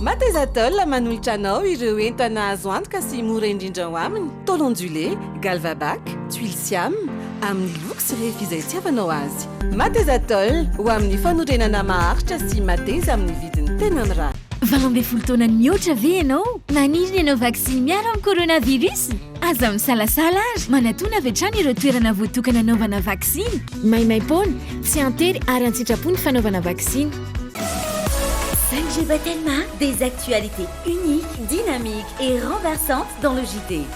Mathesatel manolotra anao ireo entana azo antoka sy mora indrindra ao aminy, tôle ondulée, Galvabac, tuiles siam, amin'ny loko sy refy izay itiavanao azy. Mathesatel, ho amin'ny fanorenana maharitra sy mateza amin'ny vidiny tena mirary. Valo ambin'ny folo taona nihoatra ve ianao? Maniry ny hanao vaksiny miaro amin'ny coronavirus? Aza misalasala ary manatona avy hatrany ireo toerana voatokana hanaovana vaksiny. Maimaim-poana, tsy an-tery ary an-tsitrapo ny fanaovana vaksiny. Sanjay Batelma, des actualités uniques, dynamiques et renversantes dans le JT.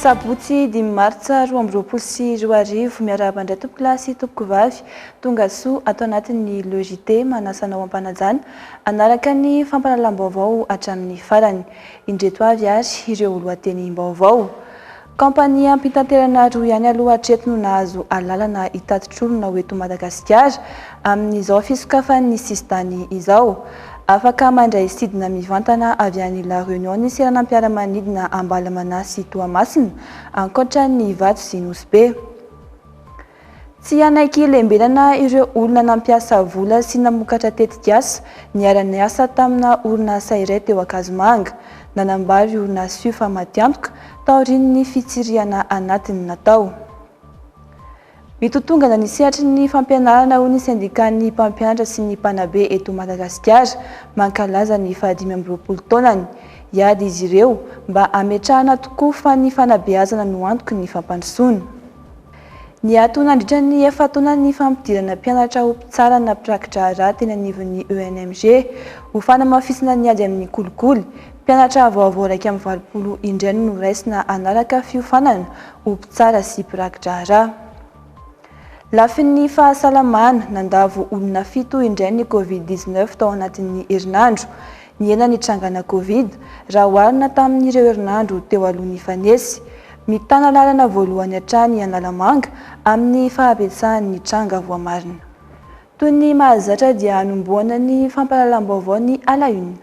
Sabotsy dimy martsa roa amby roapolo sy roa arivo. Miarahaba indray tompokolahy sy tompokovavy. Tongasoa ato anatin'ny Le JT manasa anao am-panajana hanaraka ny fampahalalam-baovao hatramin'ny farany. Indreto avy ary ireo lohatenim-baovao. Kaompaniam-pitanterana roa ihany aloha hatreto no nahazo alalana hitatitr'olona ho eto Madagasikara amin'izao fisokafan'ny sisin-tany izao. Afaka mandray sidina mivantana avy any La Réunion ny seranam-piaramanidina Ambalamanasy Toamasina, ankoatra ny Ivato sy Nosy Be. Tsy hanaiky hilembenana ireo olona nampiasa vola sy namokatra tetikasa niara-niasa tamina orinasa iray teo Ankazomanga. Nanambara io orinasa io fa matiantoka taorian'ny fitsirihana anatiny natao. Mitotongana ny sehatry ny fampianarana hoy ny sendikan'ny mpampianatra sy ny mpanabe eto Madagasikara mankalaza ny fahadimy amby roapolo taonany. Hiady izy ireo mba hametrahana tokoa fa ny fanabeazana no antoky ny fampandrosoana. Niato nandritra ny efa-taona ny fampidirana mpianatra ho mpitsara na mpiraki-draharaha teny anivon'ny ENMG, ho fanamafisana ny ady amin'ny kolikoly. Mpianatra vaovao iraika amby valopolo indray no noraisina hanaraka fiofanana ho mpitsara sy mpiraki-draharaha. Lafiny fahasalamana, nandavo olona fito indray ny Covid dix-neuf tao anatin'ny herinandro. Nihena ny trangana Covid raha oharina tamin'ireo herinandro teo aloha nifanesy. Mitana lalana voalohany hatrany i Analamanga amin'ny fahabetsahan'ny tranga voamarina. Toy ny mahazatra dia hanombohana ny fampahalalam-baovao ny à la une.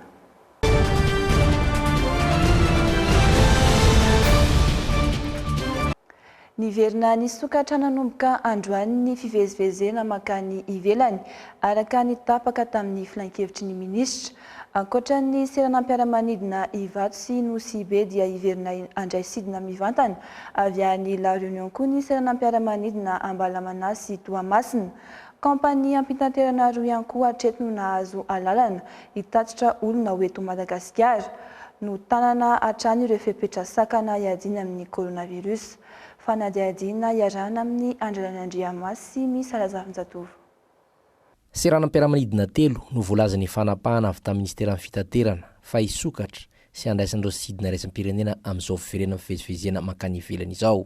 Niverina nisokatra nanomboka androany ny fivezivezena mankany ivelany, araka ny tapaka tamin'ny filankevitry ny minisitra. Ankoatra ny seranam-piaramanidina Ivato sy Nosibe dia hiverina handray sidina mivantana avy any La Réunion koa ny seranam-piaramanidina Ambalamanà sy Toamasina. Kaompaniam-pitanterana roa ihany koa hatreto no nahazo alalana hitatitra olona ho eto Madagasikara. Notanana hatrany ireo fepetra sakana hiadiana amin'ny coronavirus. Fanadihadiana iarahana amin'i Andrialany Andriamasy sy Miss Razafinjatovo. Seranam-piaramanidina telo no voalazan'ny fanapahana avy tamin'ny Minisiteran'ny Fitaterana fa hisokatra sy handraisana ireo sidina iraisampirenena amin'izao fiverenan'ny fivezivezena mankany ivelany izao.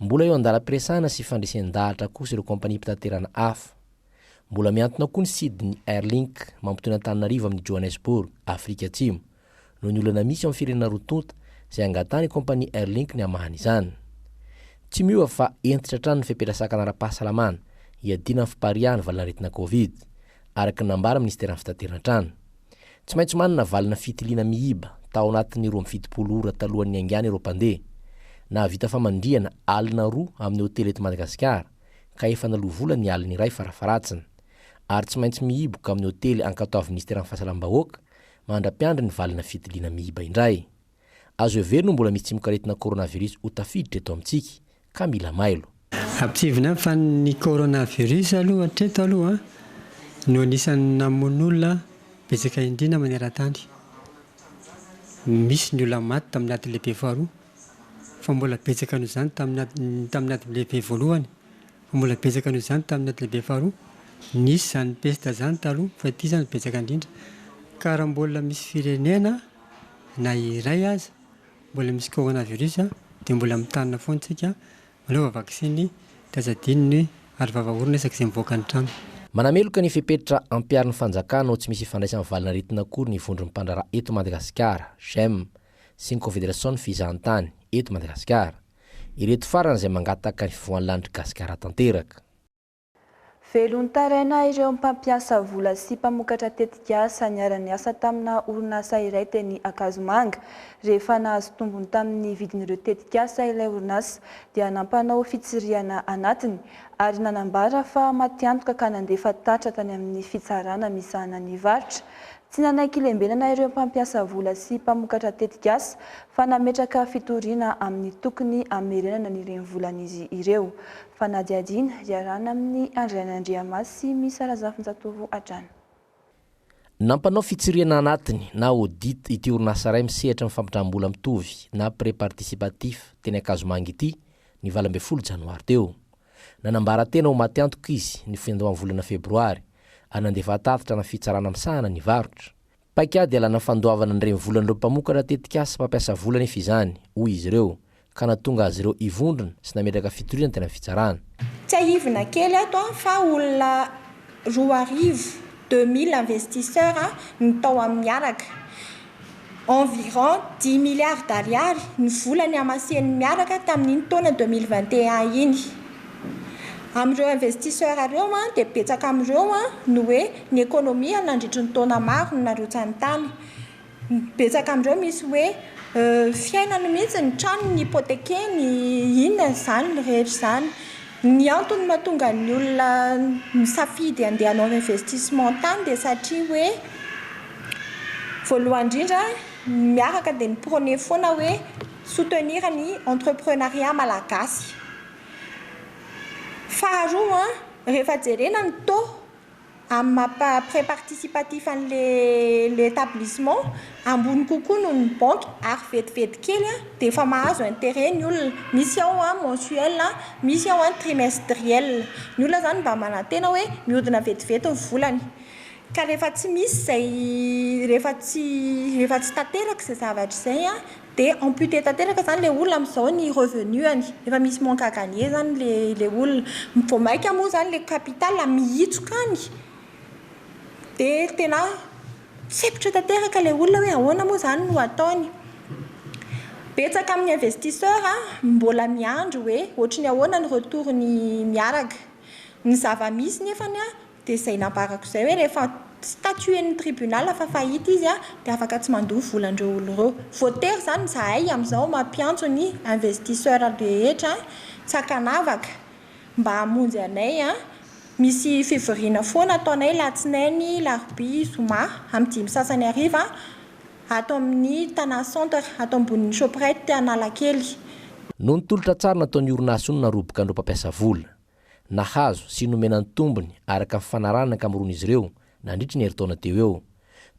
Mbola eo an-dalam-piresahana sy fandresen-dahatra kosa ireo kaompaniam-pitaterana hafa. Mbola mihantona koa ny sidin'ny Airlink mampitohy an'Antananarivo amin'i Johannesburg, Afrika Atsimo, noho ny olana misy ao amin'ny firenena roa tonta izay angatahan'ny kaompania Airlink ny hamahana izany. Tsy miova fa hentitra hatrany ny fepetra sakana ara-pahasalamana hiadiana amin'ny fipariahan'ny valanaretina Covid. araka ny nambara minisiteran'ny fitateran-trano. Tsy maintsy manana valina fitiliana mihiba tao anatin'ny roa amby fitopolo ora talohan'ny haingana ireo mpandeha. Nahavita famandrihana alina roa amin'ny hotely eto Madagasikara ka efa naloa vola ny alina iray farafaharatsiny. Ary tsy maintsy mihiboka amin'ny hotely ankatoavin'ny minisiteran'ny fahasalam-bahoaka mandra-piandry ny valina fitiliana mihiba indray. Azo heverina ho mbola misy tsimokaretina coronavirus ho tafiditra eto amintsika, ka mila mailo. Ampisehoana ihany fa ny coronavirus aloha hatreto aloha no anisan'ny namono olona betsaka indrindra maneran-tany. Misy ny olona maty tamin'ny ady lehibe faharoa, fa mbola betsaka noho izany tamin'ny ady, tamin'ny ady lehibe voalohany, fa mbola betsaka noho izany tamin'ny ady lehibe faharoa. Nisy izany pesta izany taloha, fa ity izany betsaka indrindra. Ka raha mbola misy firenena. Na iray aza mbola misy coronavirus dia mbola mitanina foana isika manaova vaksiny dia aza adino ny aro vava orona isaky izay mivoaka ny trano. Manameloka ny fepetra ampiharin'ny fanjakana ho tsy misy ifandraisany valin'aretina akory ny vondron'ny mpandraharaha eto Madagasikara, Gem, sy ny Kofederasion'ny fizahantany eto Madagasikara. Ireto farany izay mangataka ny fivoahan'ny lanitry Gasikara tanteraka. Velon-taraina ireo mpampiasa vola sy mpamokatra tetikasa niara-niasa tamina orinasa iray teny Ankazomanga. Rehefa nahazo tombony tamin'ny vidin'ireo tetikasa ilay orinasa dia nampanao fitsirihana anatiny ary nanambara fa matiantoka ka nandefa tatitra tany amin'ny fitsarana misahana ny varotra. Tsy nanaiky lembenana ireo mpampiasa vola sy mpamokatra tetikasa fa nametraka fitoriana amin'ny tokony hamerenana ny renivolan'izy ireo. Fanadihadiana iarahana amin'ny Andry Rainandriamaso sy Miss Razafinjatovo hatrany. Nampanao fitsirihana anatiny na audit ity orinasa iray misehatra amin'ny fampindram-bola mitovy na prêt participatif teny Ankazomanga ity ny valo ambin'ny folo janoary teo. Nanambara tena ho maty antoka izy ny findram-bolana febroary ary nandefa tatitra ana fitsarana misahana ny varotra. Paikady ialana fandoavana ny renivolan'ireo mpamokatra tetikasa sy mpampiasa vola anefa izany, hoy izy ireo, ka nahatonga azy ireo hivondrona sy nametraka fitoriana teny amin'ny fitsarana. Tsiahivina kely eto fa olona roa arivo, deux mille investisseurs, no tao amin'ny miaraka. Environ dimy milliards d'ariary ny vola nihamasehany miaraka tamin'iny taona deux mille vingt et un iny. Amin'ireo investisseurs ireo dia betsaka amin'ireo no hoe ny ekonomia nandritry ny taona maro no narotsany tany. Betsaka amin'ireo misy hoe fiainany mihitsy ny tranony hypothekeny, inona izany rehetra izany. Ny antony mahatonga ny olona misafidy handeha hanao investissement tany dia satria hoe voalohany indrindra miaraka dia mi-prone foana hoe soutenir ny entreprenariat malagasy. Faharoa, rehefa jerena ny taux amin'ny maha prêt participatif an'ilay établissement, ambony kokoa noho ny banky ary vetivety kely dia efa mahazo intérêt ny olona, misy ao mensuel, misy ao trimestriel. Ny olona izany mba manantena hoe mihodina vetivety ny volany ka rehefa tsy misy izay, rehefa tsy, rehefa tsy tanteraka izay zavatra izay. Dia amputer tanteraka izany ilay olona amin'izao ny revenu-any. Efa misy manque à gagner izany ilay ilay olona. Vao mainka moa izany ilay capital mihitsoka any dia tena tsepitra tanteraka ilay olona hoe ahoana moa izany no hataony. Betsaka amin'ny investisseur mbola miandry hoe ohatry ny ahoana ny retour-ny miaraka. Ny zava-misy nefany Dia izay nambarako izay hoe rehefa statuen'ny tribunal fa faillite izy dia afaka tsy mandoa volan'ireo olona ireo. Voatery izany izahay amin'izao mampiantso ny investisseur rehetra tsy ankanavaka mba hamonjy anay. Misy fivoriana foana ataonay alatsinainy, larobia, zoma amin'ny dimy sasany hariva ato amin'ny Tana Centre ato ambonin'ny Shoprite Analakely. Noho ny tolotra tsara nataon'ny orinasa io no naroboka an'ireo mpampiasa vola. nahazo sy nomena ny tombony araka ny fifanarahana ankamaroan'izy ireo nandritra ny herintaona teo eo.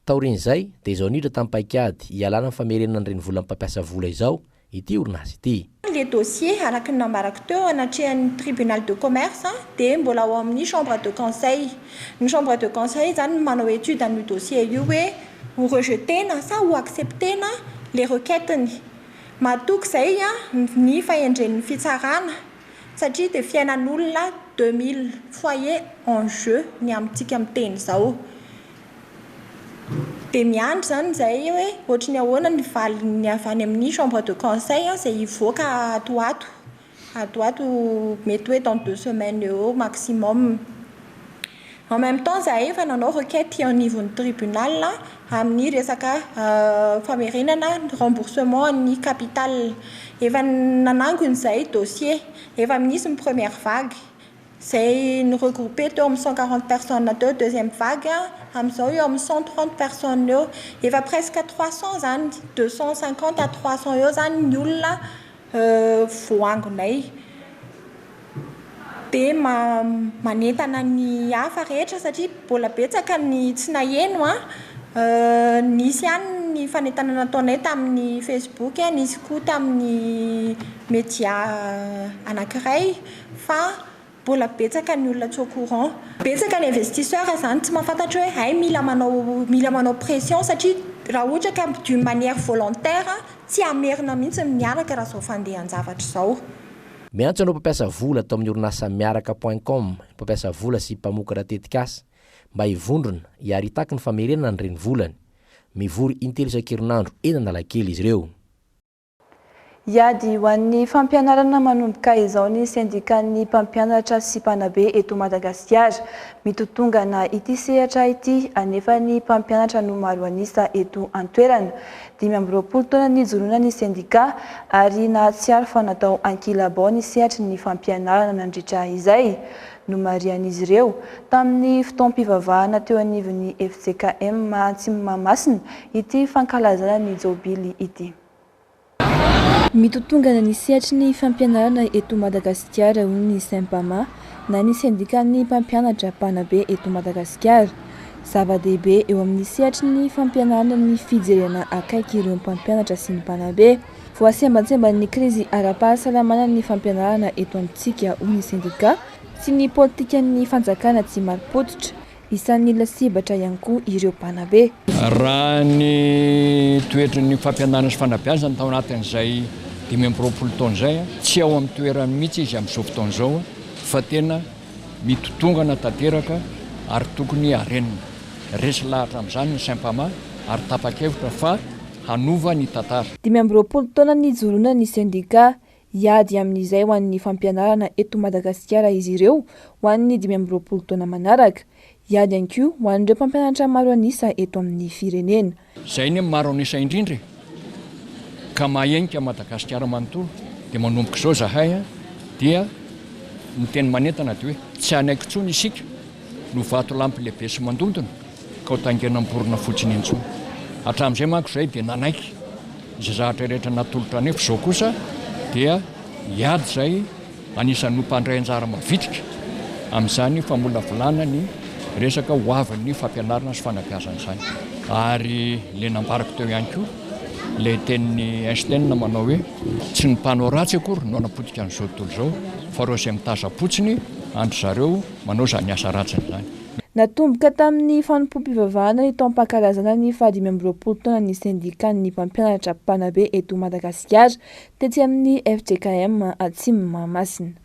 Taorian'izay dia izao niditra tamin'ny paikady hialana amin'ny famerenana ny renivolan'ny mpampiasa vola izao ity orinasa ity. Ilay dossier, araka ny nambarako teo, anatrehan'ny Tribunal de Commerce dia mbola ao amin'ny Chambre de Conseil. Ny Chambre de Conseil izany no manao étude an'io dossier io hoe ho rejeter-na sa ho accepter-na ilay requête-ny. Mahatoky izay ny fahendren'ny fitsarana. satria dia fiainan'olona deux mille foyer en jeu ny amintsika miteny izao dia miandry izany izahay hoe ohatry ny ahoana ny valiny avy any amin'ny chambre de conseil izay hivoaka ato ho ato, ato ho ato mety hoe dans deux semaines eo eo maximum. En même temps izahay efa nanao requête eo anivon'ny tribunal amin'ny resaka famerenana ny remboursement an'ny capital. Efa nanangona izahay dossier, efa nisy ny première vague izay ni-regrouper teo amin'ny cent quarante personnes teo, deuxième vague amin'izao eo amin'ny cent trente personnes eo. Efa presque trois cents izany, deux cent cinquante à trois cents eo izany ny olona. voangonay be manentana ny hafa rehetra satria mbola betsaka ny tsy naheno an, nisy ihany ny fanentanana nataonay tamin'ny facebook, nisy koa tamin'ny media anankiray fa Mbola betsaka ny olona tsy au courant. Betsaka ny investisseur izany tsy mahafantatra hoe hay mila manao mila manao pression satria raha ohatra ka d'une manière volontaire tsy hamerina mihitsy ny miaraka raha izao fandehan-javatra izao. Miantso anao mpampiasa vola ato amin'ny orinasa Miaraka point com, mpampiasa vola sy mpamokatra tetikasa, mba hivondrona, hiary hitaky ny famerenana ny renivolany. Mivory in-telo isan-kerinandro eny Analakely izy ireo. Hiady ho an'ny fampianarana manomboka izao ny sendikan'ny mpampianatra sy mpanabe eto Madagasikara. Mitotongana ity sehatra ity anefa ny mpampianatra no maro an'isa eto an-toerana. Dimy amby roapolo taona nijoroana ny sendika ary nahatsiaro fa natao ankilabao ny sehatry ny fampianarana nandritra izay. Nomarihan'izy ireo, tamin'ny fotoam-pivavahana teo anivon'ny fjkm Atsimo Mahamasina, ity fankalazana ny Jobily ity. Mitotongana ny sehatry ny fampianarana eto Madagasikara, hoy ny Sympama, na ny sendikan'ny mpampianatra mpanabe eto Madagasikara. Zava-dehibe eo amin'ny sehatry ny fampianarana ny fijerena akaiky ireo mpampianatra sy ny mpanabe. Voasembantsemban'ny krizy ara-pahasalamana ny fampianarana eto amintsika, hoy ny sendika, sy ny politikan'ny fanjakana tsy mari-pototra. Isan'ny lasibatra ihany koa ireo mpanabe. Raha ny toetry ny fampianarana sy fanabeazana tao anatin'izay dimy amby roapolo taona izay, tsy ao amin'ny toerany mihitsy izy amin'izao fotoana izao fa tena mitotongana tanteraka ary tokony harenina. Resy lahatra amin'izany ny saim-pamà ary tapa-kevitra fa. hanova ny tantara. Dimy amby roapolo taona nijoroana ny sendika hiady amin'izay ho an'ny fampianarana eto Madagasikara izy ireo ho an'ny dimy amby roapolo taona manaraka. Hiady ihany koa ho an'ireo mpampianatra maro an'isa eto amin'ny firenena. Izay anie maro an'isa indrindra e! Ka mahahenika an'i Madagasikara manontolo. Dia manomboka izao izahay an! Dia ny teny manentana dia hoe, tsy hanaiky intsony isika no vatolampy lehibe sy mandondona. ka ho taingina am-borona fotsiny intsony. Hatramin'izay manko izahay dia nanaiky izay zavatra rehetra natolotra anay fa izao kosa dia hiady izay anisan'ny ho mpandray anjara mavitrika amin'izany famolavolana ny resaka ho avin'ny fampianarana sy fanabeazana izany. Ary ilay nambarako teo ihany koa ilay tenin'i Einstein manao hoe tsy ny mpanao ratsy akory no hanapotika an'izao tontolo izao fa ireo izay mitazam-potsiny an-dry zareo manao izany asa ratsiny izany. Natomboka tamin'ny fanompoam-pivavahana ny taom-pankalazana ny fahadimy amby roapolo taonan'ny sendikan'ny mpampianatra mpanabe eto Madagasikara, tetsy amin'ny fjkm Atsimo Mahamasina.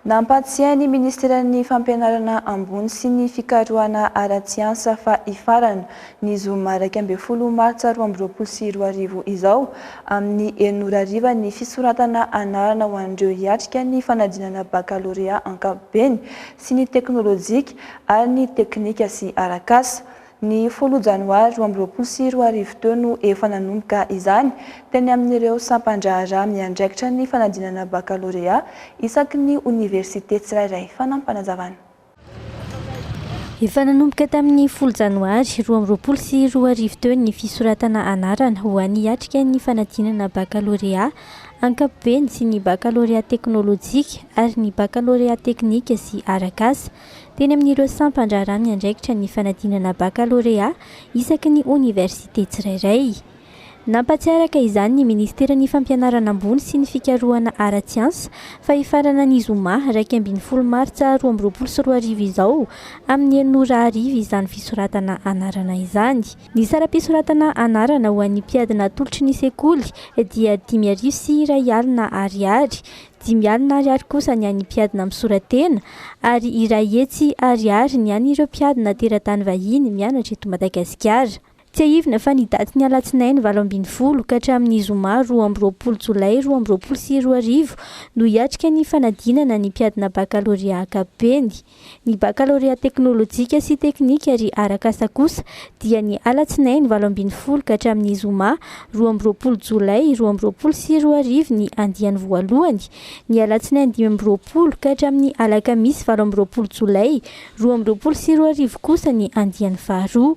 Nampahatsiahy ny minisiteran'ny Fampianarana ambony sy ny fikarohana ara-tsiansa fa hifarana, ny zoma iraika ambin'ny folo martsa roa amby roapolo sy roa arivo izao, amin'ny enina ora hariva ny fisoratana anarana ho an'ireo hiatrika ny fanadinana bakalorea ankapobeny sy ny teknolojika ary ny teknika sy arak'asa. Ny folo janoary roa amby roapolo sy roa arivo teo no efa nanomboka izany teny amin'ireo sampan-draharaha miandraikitra ny fanadinana bakalorea isaky ny oniversite tsirairay. Fanampinazavana. Efa nanomboka tamin'ny folo janoary roa amby roapolo sy roa arivo teo ny fisoratana anarana ho an'ny hiatrika ny fanadinana bakalorea ankapobeny sy ny bakalorea teknolojika ary ny bakalorea teknika sy arak'asa, teny amin'ireo sampan-draharaha miandraikitra ny fanadinana bakalorea isaky ny oniversite tsirairay. Nampahatsiaraka izany ny minisiteran'ny Fampianarana ambony sy ny fikarohana ara-tsiansa fa hifarana ny zoma iraika ambin'ny folo martsa roa amby roapolo sy roa arivo izao amin'ny enina ora hariva izany fisoratana anarana izany. Ny saram-pisoratana anarana ho an'ny mpiady natolotry ny sekoly dia dimy arivo sy iray alina ariary, dimy alina ariary kosa ny an'ny mpiadina misora-tena ary iray hetsy ariary ny an'ireo mpiadina teratany vahiny mianatra eto Madagasikara. Tsiahivina fa ny datin'ny alatsinainy valo ambin'ny folo ka hatramin'ny zoma roa amby roapolo jolay roa amby roapolo sy roa arivo no hiatrika ny fanadinana ny mpiadina bakalorea ankapobeny. ny bakalorea teknolojika sy teknika ary arak'asa kosa dia ny alatsinainy valo ambin'ny folo ka hatramin'ny zoma roa amby roapolo jolay roa amby roapolo sy roa arivo ny andiany voalohany, ny alatsinainy dimy amby roapolo ka hatramin'ny alakamisy valo amby roapolo jolay roa amby roapolo sy roa arivo kosa ny andiany faharoa.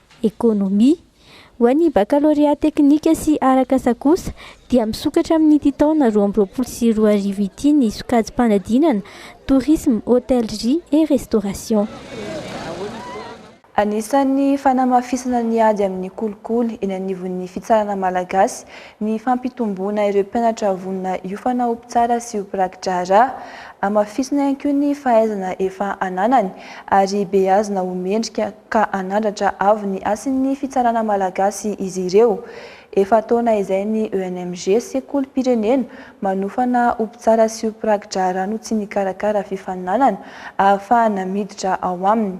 Ekonomia. Ho an'ny bakalorea teknika sy arakasa kosa dia misokatra amin'ity taona roa amby roapolo sy roa arivo ity ny sokajim-panadinana Tourisme, Hôtellerie et Restauration. Anisan'ny fanamafisana ny ady amin'ny kolikoly eny anivon'ny fitsarana malagasy Ny fampitomboana ireo mpianatra vonona hiofana ho mpitsara sy ho mpiraki-draharaha. Hamafisina ihany koa ny fahaizana efa ananany ary beazina ho mendrika ka hanandratra avo ny hasin'ny fitsarana malagasy izy ireo. Efa taona izay ny ENMG, sekolim-pirenena manofana ho mpitsara sy ho mpiraki-draharaha no tsy nikarakara fifaninanana ahafahana miditra ao aminy.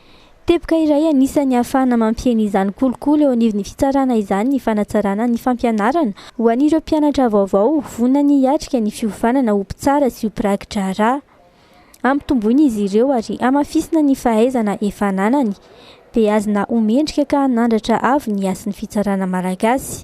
Teboka iray anisan'ny ahafahana mampihena izany kolikoly eo anivon'ny fitsarana izany ny fanatsarana ny fampianarana ho an'ireo mpianatra vaovao vonona hiatrika ny fiofanana ho mpitsara sy ho mpiraki-draharaha. Ampitomboina izy ireo ary hamafisina ny fahaizana efa ananany, dia azona ho mendrika ka hanandratra avo ny hasin'ny fitsarana malagasy.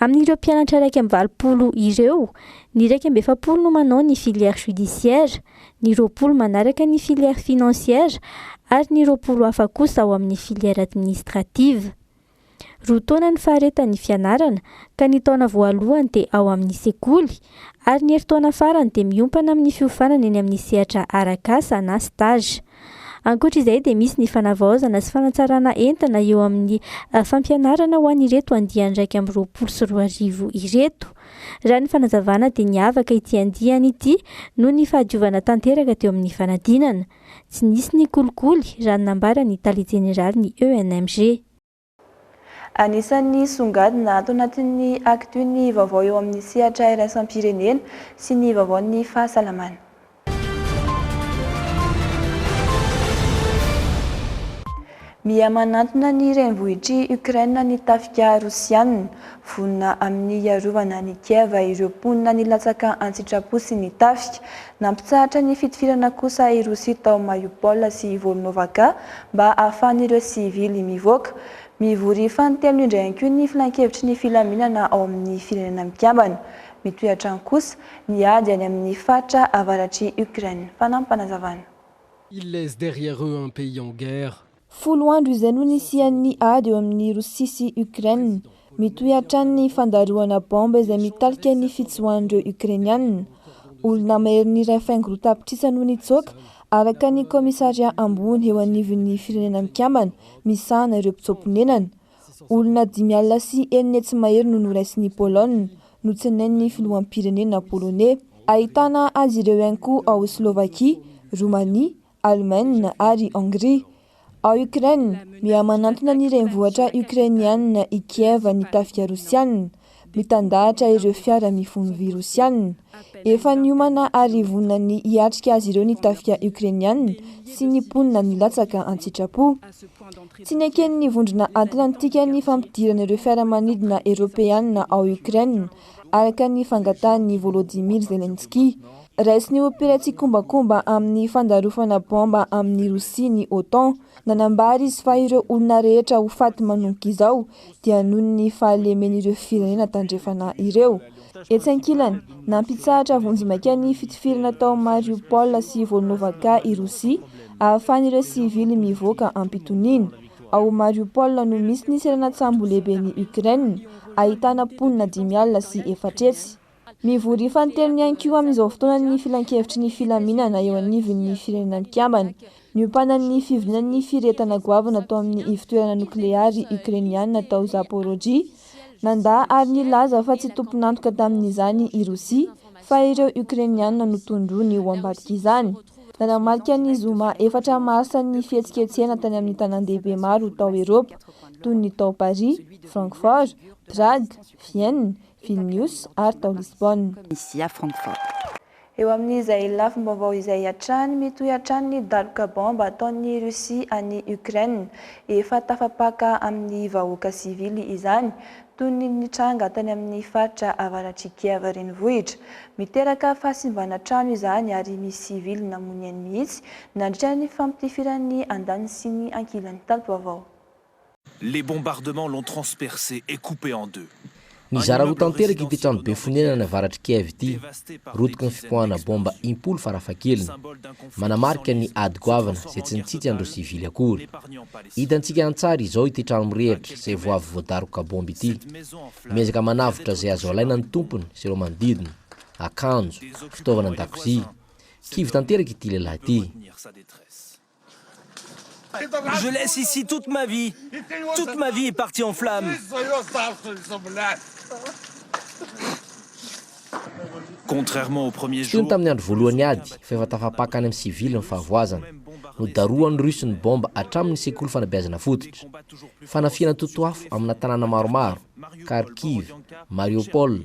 Amin'ireo mpianatra iraika amby valopolo ireo, ny iraika amby efapolo no manao ny filière judiciaire, ny roapolo manaraka ny filière financière ary ny roapolo hafa kosa ao amin'ny filière administrative. Roa taona ny faharetan'ny fianarana ka ny taona voalohany dia ao amin'ny sekoly ary ny herintaona farany dia miompana amin'ny fiofanana eny amin'ny sehatra arak'asa na stage. Ankoatra izay dia misy ny fanavaozana sy fanatsarana entana eo amin'ny fampianarana ho an'ireto andiany iraika amby roapolo sy roa arivo ireto. Raha ny fanazavana dia niavaka ity andiany ity noho ny fahadiovana tanteraka teo amin'ny fanadinana. Tsy nisy ny kolikoly raha ny nambaran'ny Tale Jeneralin'ny ENMG. Anisan'ny songadina ato anatin'ny Actu ny vaovao eo amin'ny sehatra iraisam-pirenena sy ny vaovaon'ny fahasalamana. Miha manantona ny renivohitr'i Ukraine ny tafika Rosiana. Vonona amin'ny hiarovana an'i Kiev ireo mponina nilatsaka an-tsitrapo sy ny tafika. Nampitsahatra ny fitifirana kosa i Rosia tao Mariupol sy Volnovakha mba hahafahan'ireo sivily mivoaka. Mivory fanintelony indray ihany koa ny filankevitry ny filaminana ao amin'ny Firenena Mikambana. Mitohy hatrany kosa ny ady any amin'ny faritra avaratr'i Ukraine. Fanampim-panazavana. Ils laissent derrière eux un pays en guerre, Folo andro izay no nisian'ny ady eo amin'i Rosia sy Ukraine. Mitohy hatrany ny fandarohana baomba izay mitarika ny fitsoahan'ireo Ukrainiana. Olona maherin'ny iray faingo roa tapitrisa no nitsoaka, araka ny kaomisarià ambony eo anivon'ny Firenena Mikambana misahana ireo mpitsoa-ponenana. Olona dimy alina sy enina hetsy mahery no noraisin'i Pologne, notsinain'ny filoham-pirenena poloney. Ahitana azy ireo ihany koa ao Slovakia, Romania, Alemaina ary Hongria. Ao Ukraine, miha-manantona ny renivohitra Ukrainiana i Kiev ny tafika Rosiana, mitandahatra ireo fiara mifono vy Rosiana. Efa niomana ary vonona ny hiatrika azy ireo ny tafika Ukrainiana sy ny mponina milatsaka an-tsitrapo. Tsy neken'ny Vondrona Atlantika ny fampidirana ireo fiaramanidina Eropeana ao Ukraine, araka ny fangatahan'i Volodymyr Zelensky. Raisin'ny ho mpila tsikombakomba amin'ny fandarofana baomba amin'i Rosia ny OTAN. Nanambara izy fa ireo olona rehetra ho faty manomboka izao dia noho ny fahalemen'ireo firenena tandrefana ireo. Etsy ankilany, nampitsahatra vonjimaika ny fitifirana tao Mariupol sy Volnovakha i Rosia, ahafahan'ireo sivily mivoaka am-pitoniana. Ao Mariupol no misy ny seranan-tsambo lehiben'i Ukraine, ahitana mponina dimy alina sy efatra hetsy. Mivory ifantelony ihany koa amin'izao fotoana ny Filankevitry ny Filaminana eo anivon'ny Firenena Mikambana, niompanan'ny fivorianan'ny firehetana goavana tao amin'ny ivotoerana nokleary Okrainiana tao Zaporozhye Nandà ary nilaza fa tsy tompon'antoka tamin'izany i Rosia, fa ireo Okrainiana no tondroiny ho ambadik'izany. Nanamarika ny zoma efatra marsa ny fihetsiketsehana tany amin'ny tanàndehibe maro tao Eropa, toy ny tao Paris, Francfort, Prague, Vienne, Vilnius ary tao Lisbona. Tunisia, Francfort. Eo amin'izay lafim-baovao izay hatrany, mitohy hatrany ny daroka baomba ataon'i Russie an'i Ukraine. Efa tafapaka amin'ny vahoaka sivily izany, toy ny nitranga tany amin'ny faritra avaratr'i Kiev renivohitra. Miteraka fahasimbana trano izany ary misy sivily namoy ny ainy mihitsy nandritra ny fampitifiran'ny andaniny sy ny ankilany tato ho avao. Les bombardements l'ont transpercé et coupé en deux. Nizara roa tanteraka ity trano be fonenana any avaratr'i Kiev ity, rotiky ny fipoahana bomba impolo farafahakeliny. Manamarika ny ady goavana izay tsy nitsitsy an'ireo sivily akory. Hitantsika an-tsary izao ity trano mirehitra izay vao avy voadaroka bomba ity. Miezaka manavotra izay azo alaina ny tompony sy ireo manodidina, akanjo, fitaovana an-dakozia. Kivy tanteraka ity lehilahy ity. Je laisse ici toute ma vie Toute ma vie est partie en flamme Contrairement au premier jour Tsy toy ny tamin'ny andro voalohan'ny ady, fa efa tafapaka any amin'ny sivily ny fahavoazana. Nodarohan'ny Russe ny baomba hatramin'ny sekoly fanabeazana fototra. Fanafihana totoafo amina tanàna maromaro, Kharkiv, Mariupol,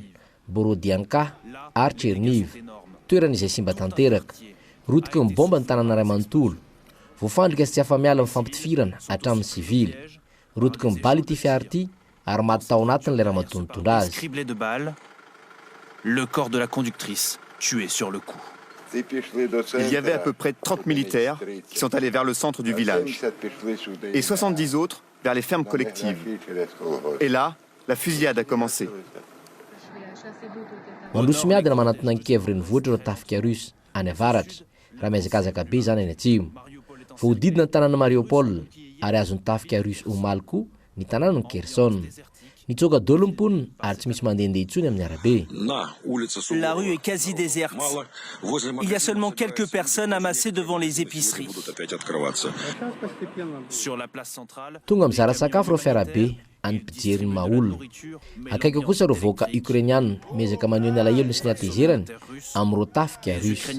Borodianka, ary Tcherniv, toerana izay simba tanteraka. Rotiky ny baomba ny tanàna iray manontolo. Voafandrika sy tsy afa-miala amin'ny fampitifirana hatramin'ny sivily. Rotiky ny bala ity fiara ity, ary maty tao anatiny ilay ramatoa nitondra azy. Il y avait à peu près trente militaires qui sont allés vers le centre du village et soixante-dix autres vers les fermes collectives et là la fusillade a commencé. Mandroso miadana manantona an'i Kiev renivohitra ireo tafika Russe any avaratra, raha mihazakazaka be izany any atsimo. Voahodidina ny tanàna Mariupol ary azon'ny tafika Russe omaly koa ny tanànan'i Kherson. Mitsoaka dolo ny mponina ary tsy misy mandehandeha intsony amin'ny arabe. La rue est quasi déserte. Il y a seulement quelques personnes amassées devant les épiceries. Sur la place centrale. Tonga mizara sakafo ireo fiarabe an'ny mpijery ny maha olona. Akaiky eo kosa ireo vahoaka Ukrainiana miezaka maneho ny alahelony sy ny hatezerany amin'ireo tafika Russe.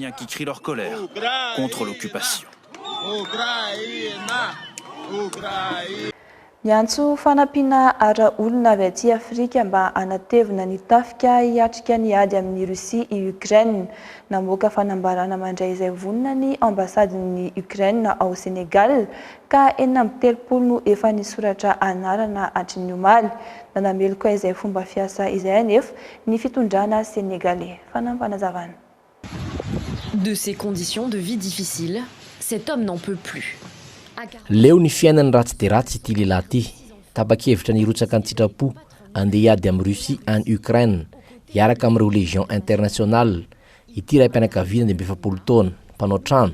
Miantso fanampiana ara olona avy aty Afrika mba hanatevina ny tafika hiatrika ny ady amin'i Russie i Ukraine. Namoaka fanambarana mandray izay vonona ny ambasadin'i Ukraine ao Senegal ka enina amby telopolo no efa nisoratra anarana hatry ny omaly. Nanameloka izay fomba fiasa izay anefa ny fitondrana Senegalais. Fanampinazavana. De ces conditions de vie difficiles, cet homme n'en peut plus. Leo ny fiainany ratsy dia ratsy ity lehilahy ity. Tapa-kevitra ny hirotsaka an-tsitrapo handeha hiady amin'i Russie any Ukraine, hiaraka amin'ireo Légion Internationale. Ity raim-pianakaviana dimy amby efapolo taona, mpanao trano.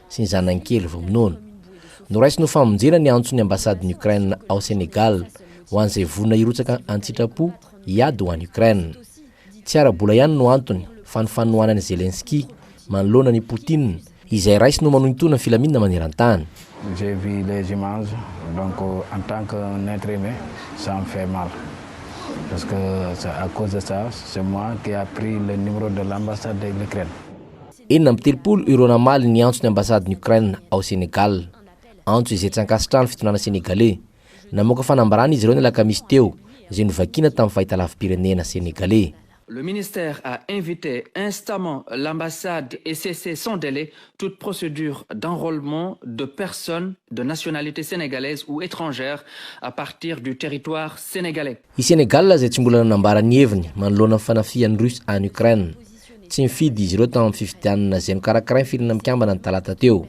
sy ny zanany kely vao minono. Noraisiny ho famonjena ny antson'ny ambasadin'i Ukraine ao Sénégal ho an'izay vonona hirotsaka an-tsitrapo hiady ho an'i Ukraine. Tsy ara-bola ihany no antony fa ny fanohanan'i Zelensky manoloana an'i Poutine izay raisiny ho manohintohina ny filaminana maneran-tany. J'ai vu les images donc en tant qu'un être humain ça me fait mal parce que c'est à cause de ça c'est moi qui a pris le numéro de l'ambassade de l'Ukraine. Enina amby telopolo ireo namaly ny antson'ny ambasadin'i Ukraine ao Sénégal. Antso izay tsy ankasitrahan'ny fitondrana Sénégalais. Namoaka fanambarana izy ireo ny alakamisy teo, izay novakiana tamin'ny fahitalavi-pirenena Sénégalais. Le ministère a invite instamment l'ambassade et cesser sans délai toute procédure d'enrôlement de personnes de nationalité sénégalaise ou étrangère à partir du territoire sénégalais. I Sénégal, izay tsy mbola nanambara ny heviny manoloana ny fanafihan'ny Russe an'i Ukraine, tsy nifidy izy ireo tao amin'ny fifidianana izay nokarakarain'ny Firenena Mikambana ny talata teo.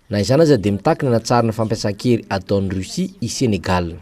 Na izany aza dia mitaky ny hanatsarana fampiasan-kery ataon'i Russie i Sénégal.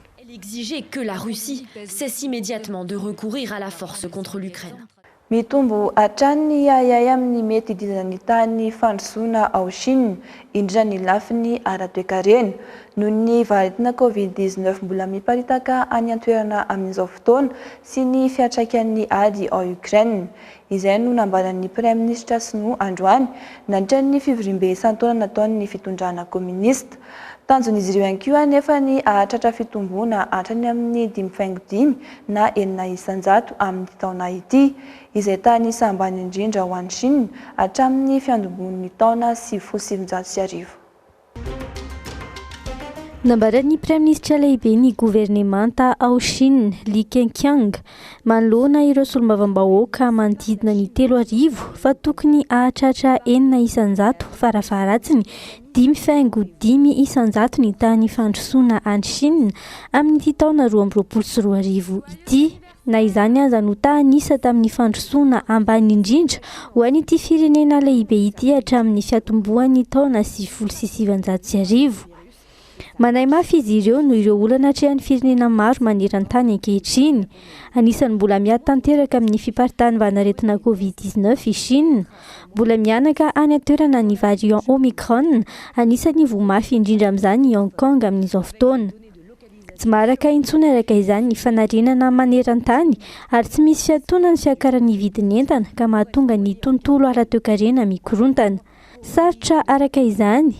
Mitombo hatrany ny ahiahy amin'ny mety hidinan'ny tahan'ny fandrosoana ao Chine, indrindra ny lafiny ara-toekarena. Noho ny vaharetina Covid dix-neuf mbola miparitaka any an-toerana amin'izao fotoana sy ny fiantraikan'ny ady ao Ukraine. Izay no nambaran'ny Praiminisitra Sinoa androany, nandritra ny fivoriambe isan-taona nataon'ny fitondrana kominista. Tanjon'izy ireo ihany koa anefa ny hahatratra fitomboana hatrany amin'ny dimy faingo dimy na enina isan-jato amin'ity taona ity, izay tany saha ambany indrindra ho an'i Shina hatramin'ny fiandomboan'ny taona sivy folo sy sivinjato sy arivo. Nambaran'ny Praiminisitra Lehiben'ny Governemanta ao Shina, Li Keqiang, manoloana ireo solombavambahoaka manodidina ny telo arivo fa tokony hahatratra enina isan-jato farafaharatsiny Dimy faingo dimy isan-jato ny tany fandrosoana any Chine amin'ity taona roa amby roapolo sy roa arivo ity. Na izany aza no tany isa tamin'ny fandrosoana ambany indrindra ho an'ity firenena lehibe ity hatramin'ny fiatombohan'ny taona sivifolo sy sivanjato sy arivo. Manahy mafy izy ireo noho ireo olana atrehan'ny firenena maro maneran-tany ankehitriny. Anisan'ny mbola miady tanteraka amin'ny fiparitan'ny vanan-aretina Covid dix-neuf i Chine. Mbola mihanaka any an-toerana ny variant Omicron, anisan'ny voa mafy indrindra amin'izany i Hong Kong amin'izao fotoana. Tsy maharaka intsony araka izany ny fanarenana maneran-tany ary tsy misy fiatoana ny fiakaran'ny vidin'entana ka mahatonga ny tontolo ara-toekarena mikorontana. Sarotra araka izany.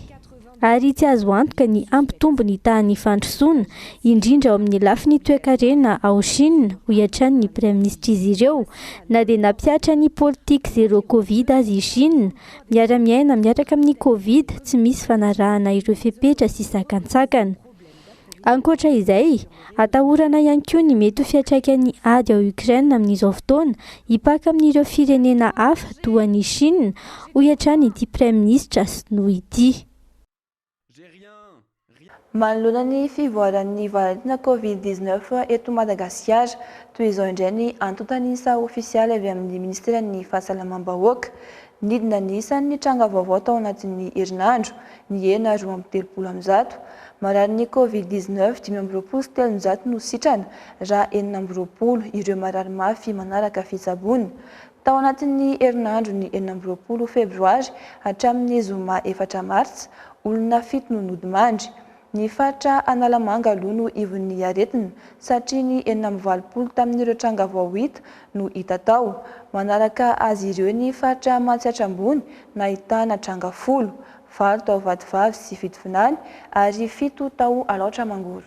ary tsy azo antoka ny hampitombo ny tahan'ny fandrosoana, indrindra ao amin'ny lafiny toekarena ao Shina, hoy hatrany ny praiminisitry'izy ireo. Na dia nampihatra ny politika zero Covid aza i Shina, miara-miaina miaraka amin'ny Covid tsy misy fanarahana ireo fepetra sy sakantsakana. Ankoatra izay, atahorana ihany koa ny mety ho fiantraikan'ny ady ao Ukraine amin'izao fotoana hipaka amin'ireo firenena hafa toa an'i Chine, hoy hatrany ity praiminisitra sinoa ity. Manoloana ny fivoaran'ny variantina Covid dix neuf eto Madagasikara, toy izao indray ny antontan'isa ofisialy avy amin'ny Ministeran'ny Fahasalamam-bahoaka, Nidina ny isan' ny tranga vaovao tao anatin' ny herinandro, nihena roa amby telopolo amin'ny zato. Mararin' ny Covid dix-neuf dimy amby roapolo sy telonjato no sitrana, raha enina amby roapolo ireo marary mafy manaraka fitsaboana. Tao anatin' ny herinandron' ny enina amby roapolo febroary hatramin' ny zoma efatra martsa, olona fito no nodimandry. Ny faritra Analamanga aloha no ivon'ny aretina satria ny enina amby valopolo tamin'ireo tranga voahita no hita tao. Manaraka azy ireo ny faritra Matsiatra Ambony nahitana tranga folo, valo tao Vatovavy sy Fitovinany ary fito tao Alaotra Mangoro.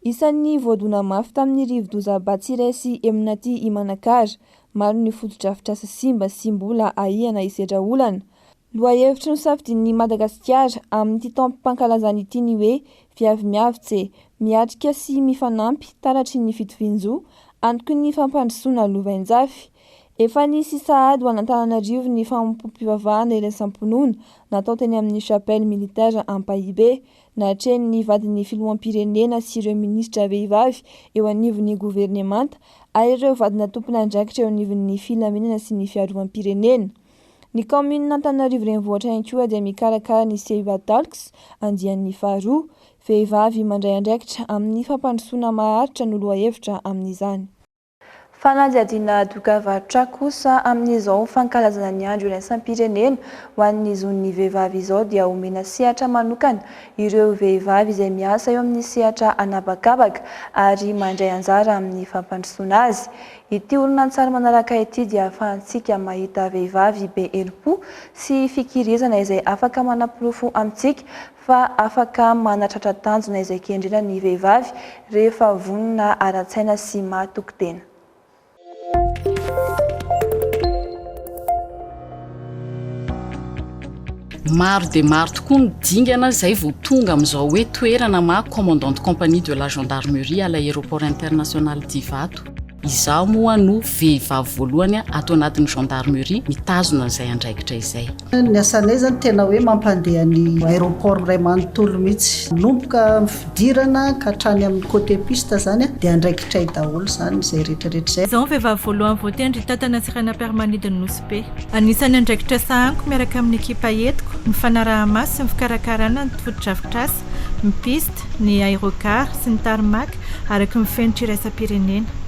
Isan'ny voadona mafy tamin'ny rivodoza Batsirai sy Eminati i Manakara. Maro ny fotodrafitrasa simba sy mbola ahiana hisedra olana. Lohahevitry ny safidin'ny Madagasikara amin'ity taom-pankalazana ity ny hoe Viavy Miavotse, Miatrika sy Mifanampy, Taratry ny Fitovian-jo, Antoky ny Fampandrosoana Lovainjafy. Efa nisy sahady ho an'Antananarivo ny fanompoam-pivavahana iraisam-pinoana natao teny amin'ny Chapelle Militaire Ampahibe, Natrehin'ny vadin'ny filoham-pirenena sy ireo minisitra vehivavy eo anivon'ny governemanta ary ireo vadina tompon'andraikitra eo anivon'ny filaminana sy ny fiarovam-pirenena. Ny kaominin'Antananarivo Renivohitra ihany koa dia mikarakara ny Seiba Talks andiany faharoa. Vehivavy mandray andraikitra amin'ny fampandrosoana maharitra no lohahevitra amin'izany. Fanadihadiana doka varotra kosa amin'izao fankalazana ny andro iraisam-pirenena ho an'ny zon'ny vehivavy izao dia omena sehatra manokana ireo vehivavy izay miasa eo amin'ny sehatra an'habakabaka ary mandray anjara amin'ny fampandrosoana azy. Ity horonantsary manaraka ity dia ahafahantsika mahita vehivavy be herim-po sy fikirizana izay afaka manaporofo amintsika fa afaka manatratra tanjona izay kendrena ny vehivavy rehefa vonona ara-tsaina sy mahatoky tena. Maro dia maro tokoa ny dingana izay vao tonga amin'izao hoe toerana maha Commandant de compagnie de la Gendarmerie à l'Aéroport International d'Ivato. Izaho moa no vehivavy voalohany ato anatin'ny gendarmerie mitazona an'izay andraikitra izay. Ny asanay izany tena hoe mampandeha ny aéroport iray manontolo mihitsy. Manomboka amin'ny fidirana ka hatrany amin'ny côté piste izany dia andraikitray daholo izany izay rehetrarehetra izay. Izaho ny vehivavy voalohany voatendry hitantana sy hanam-piaramanidina ny Nosy-Be. Anisan'ny andraikitra sahaniko miaraka amin'ny ekipa entiko ny fanaraha-maso sy ny fikarakarana ny fotodrafitrasa, ny piste, ny aérogare sy ny tarmac araka ny fenitra iraisam-pirenena.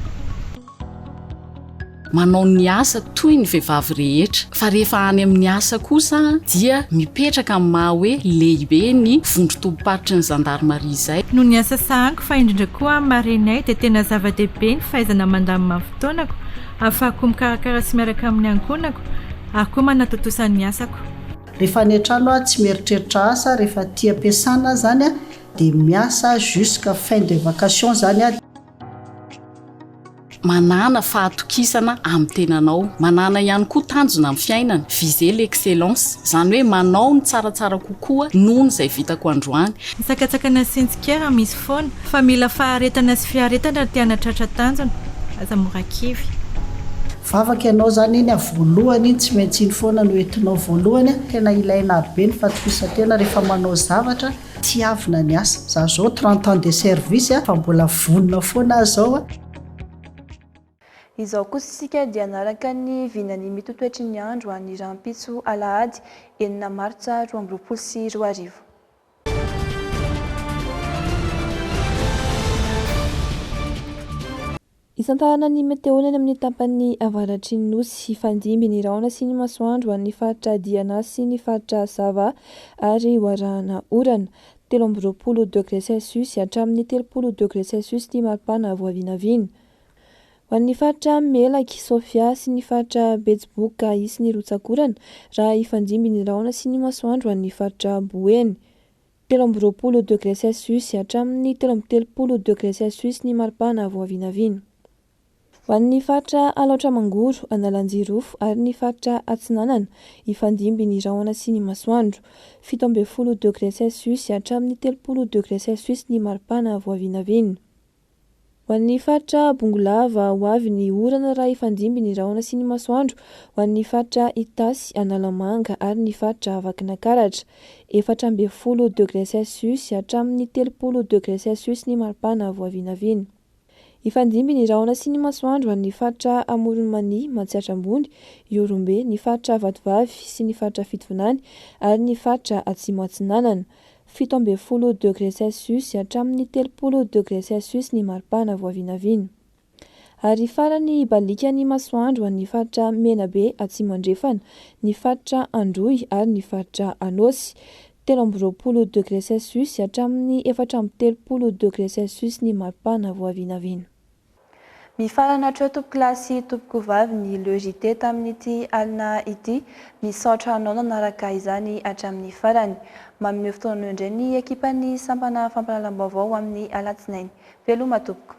Manao ny asa toy ny vehivavy rehetra fa rehefa any amin'ny asa kosa dia mipetraka amin'ny maha hoe lehibe ny vondron-tobim-paritry ny zandarimaria izay. Noho ny asa sahaniko fa indrindra koa amin'ny marenay dia tena zava-dehibe ny fahaizana mandamina ny fotoanako ahafahako mikarakara sy miaraka amin'ny ankohonako ary koa manatontosa ny asako. Refa any antrano aho tsy mieritreritra asa refa tia ampiasana aho zany a de miasa jusque fin de vacation zany a. Manàna fahatokisana amin'ny tenanao. Manàna ihany koa tanjona amin'ny fiainana, viser l'excellence. Izany hoe manao ny tsaratsara kokoa noho ny izay vitako androany. Ny sakatsakana sy ny tsikera misy foana, fa mila faharetana sy fiaretana raha te hanatratra tanjona. Aza mora kivy. Vavaka ianao zany iny a voalohany iny tsy maintsy iny foana no entinao voalohany a tena ilaina be ny fatofisantena rehefa manao zavatra tiavina ny asa za zao trente ans de service a fa mbola vonona foana aho zao a. Izao kosa isika dia hanaraka ny vinan'ny mitotoetry ny andro any rahampitso alahady enina martsa roa amby roapolo sy roa arivo. Isantarana ny meteo any amin'ny tapany avaratry ny nosy hifandimby ny rahona sy ny masoandro ho an'ny faritra Diana sy ny faritra Sava ary ho arahana orana, telo amby roapolo degre celsius hatramin'ny telopolo degre celsius ny maripana voavinavina. Ho an'ny faritra Melaky, Sofia sy ny faritra Betsiboka hisy ny rotsak'orana raha hifandimby ny rahona sy ny masoandro ho an'ny faritra Boeny. Telo amby roapolo degre celsius hatramin'ny telo amby telopolo degre celsius ny maripana vao vinavina. Ho an'ny faritra Alaotra Mangoro, Analanjirofo ary ny faritra Atsinanana hifandimby ny rahona sy ny masoandro. Fito ambin'ny folo degre celsius hatramin'ny telopolo degre celsius ny maripana vao vinavina. Ho an'ny faritra Bongolava ho avy ny orana raha hifandimby ny rahona sy ny masoandro, ho an'ny faritra Itasy, Analamanga ary ny faritra Vakinankaratra. Efatra ambin'ny folo degre celsius hatramin'ny telopolo degre celsius ny maripana vao vinavina. Hifandimby ny rahona sy ny masoandro ho an'ny faritra Amoron'i Mania, Matsiatra Ambony, Ihorombe, ny faritra Vatovavy sy ny faritra Fitovinany ary ny faritra Atsimo Atsinanana. fito ambin'ny folo degré celsius hatramin'ny telopolo degré celsius ny maripana vao vinavina. Ary farany hibaliaka ny masoandro ho an'ny faritra Menabe Atsimo Andrefana, ny faritra Androy ary ny faritra Anôsy, telo amby roapolo degré celsius hatramin'ny efatra amby telopolo degré celsius ny maripana vao vinavina. Mifarana hatreo tompokolahy sy tompokovavy ny Le JT tamin'ity alina ity. Misaotra anao nanaraka izany hatramin'ny farany. Manome fotoana anao indray ny ekipan'ny sampana fampahalalam-baovao ho amin'ny alatsinainy. Veloma tompoko.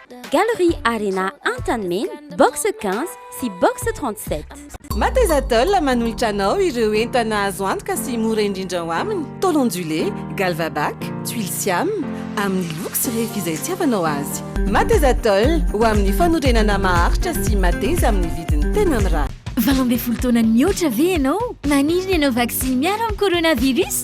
Galerie Arena Antanimena, box 15 sy box 37. Matezatol manolotra anao ireo entana azo antoka sy mora indrindra ao aminy, tôle ondulée, galvabac, tuiles siam, amin'ny loko sy refy izay itiavanao azy. Matezatol, ho amin'ny fanorenana maharitra sy mateza amin'ny vidiny tena mirary. Valo ambin'ny folo taona nihoatra ve ianao? Maniry ny hanao vaksiny miaro amin'ny coronavirus?